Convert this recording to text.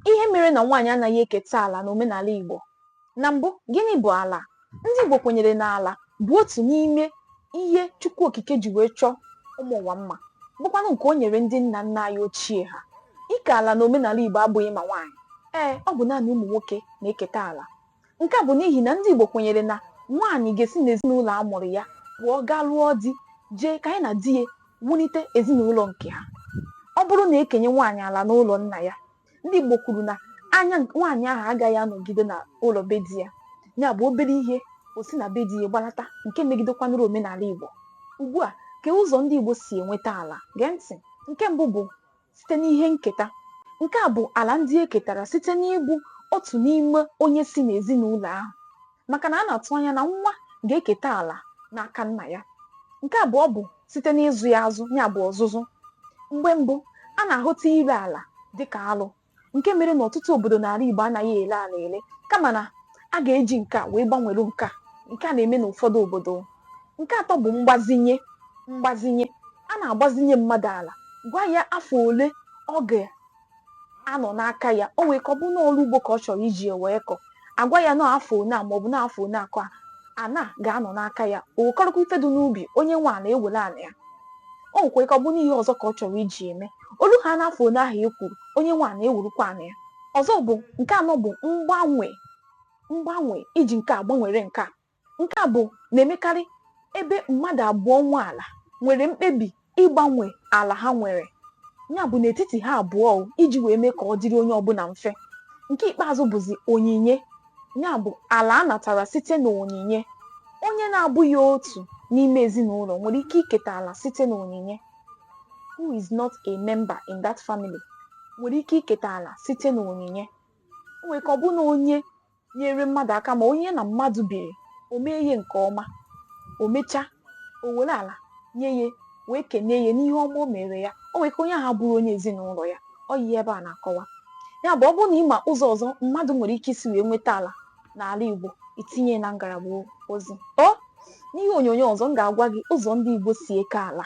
Ihe mere na nwaanyị anaghị eketa ala n'omenala Igbo. Na mbụ, gịnị bụ ala? Ndị Igbo kwenyere na ala bụ otu n'ime ihe Chukwu Okike ji wee chọọ ụmụ ụwa mma, bụkwanụ nke o nyere ndị nna nna anyị ochie ha. Ike ala n'omenala Igbo abụghị ma nwaanyị. Ee, ọ bụ naanị ụmụ nwoke na-eketa ala. Nke a bụ n'ihi na ndị Igbo kwenyere na nwaanyị ga-esi n'ezinụlọ a mụrụ ya pụọ gaa lụọ di jee ka nya na di ya wulite ezinụlọ nke ha. Ọ bụrụ na e kenye nwaanyị ala n'ụlọ nna ya, ndị Igbo kwuru na anya nwaanyị ahụ agaghị anọgide na ụlọ be di ya, ya bụ obere ihe o si na be di ya gbalata nke megidekwanụrụ omenala Igbo. Ugbu a, kee ụzọ ndị Igbo si enweta ala. Gee ntị. Nke mbụ bụ site n'ihe nketa. Nke a bụ ala ndị e ketara site n'ịbụ otu n'ime onye si n'ezinụlọ ahụ, maka na a na-atụ anya na nwa ga-eketa ala n'aka nna ya. Nke abụọ bụ site n'ịzụ ya azụ, ya bụ ọzụzụ. Mgbe mbụ, a na-ahụta ile ala dị ka alụ, nke mere na ọtụtụ obodo n'ala Igbo anaghị ele ala ele kama na a ga-eji nke a wee gbanwere nke a nke a na-eme n'ụfọdụ obodo nke atọ bụ mgbazinye mgbazinye a na-agbazinye mmadụ ala gwa ya afọ ole ọ ga-anọ n'aka ya o nwee ike ọ bụ n'ọrụ ugbo ka ọ chọrọ iji ya wee kọ a gwa ya na afọ one a maọbụ na afọ one a ka ana ga-anọ n'aka ya o wekọrọkwa ife dị n'ubi onye nwe ana ewere ana ya o nwekwara ike ọ bụ n'ihe ọzọ ka ọ chọrọ iji eme o luhaa n'afọ one ahụ e kwuru onye nwe ana ewerukwa ana ya ọzọ bụ nke anọ bụ mgbanwe mgbanwe iji nke a gbanwere nke a nke a bụ na-emekarị ebe mmadụ abụọ nwe ala nwere mkpebi ịgbanwe ala ha nwere ya bụ n'etiti ha abụọ, iji wee mee ka ọ dịrị onye ọbụla mfe nke ikpeazụ bụzi onyinye ya bụ ala a natara site n'onyinye onye na-abụghị otu n'ime ezinụlọ nwere ike iketa ala site n'onyinye who is not a member in that family nwere ike iketa ala site n'onyinye o nwere ike ọ bụ na onye nyere mmadụ aka ma onye na mmadụ biri o mee ihe nke ọma o mechaa o were ala nye ya wee kenee ya n'ihe ọma o mere ya o nwere ike onye ahụ bụrụ onye ezinụlọ ya ọ ihe ebe a na-akọwa ya bụ ọ bụrụ na ị ma ụzọ ọzọ mmadụ nwere ike isi wee nweta ala n'ala Igbo i tinye na ngalaba ozi ọ n'ihe onyonyo ọzọ m ga-agwa gị ụzọ ndị Igbo si eke ala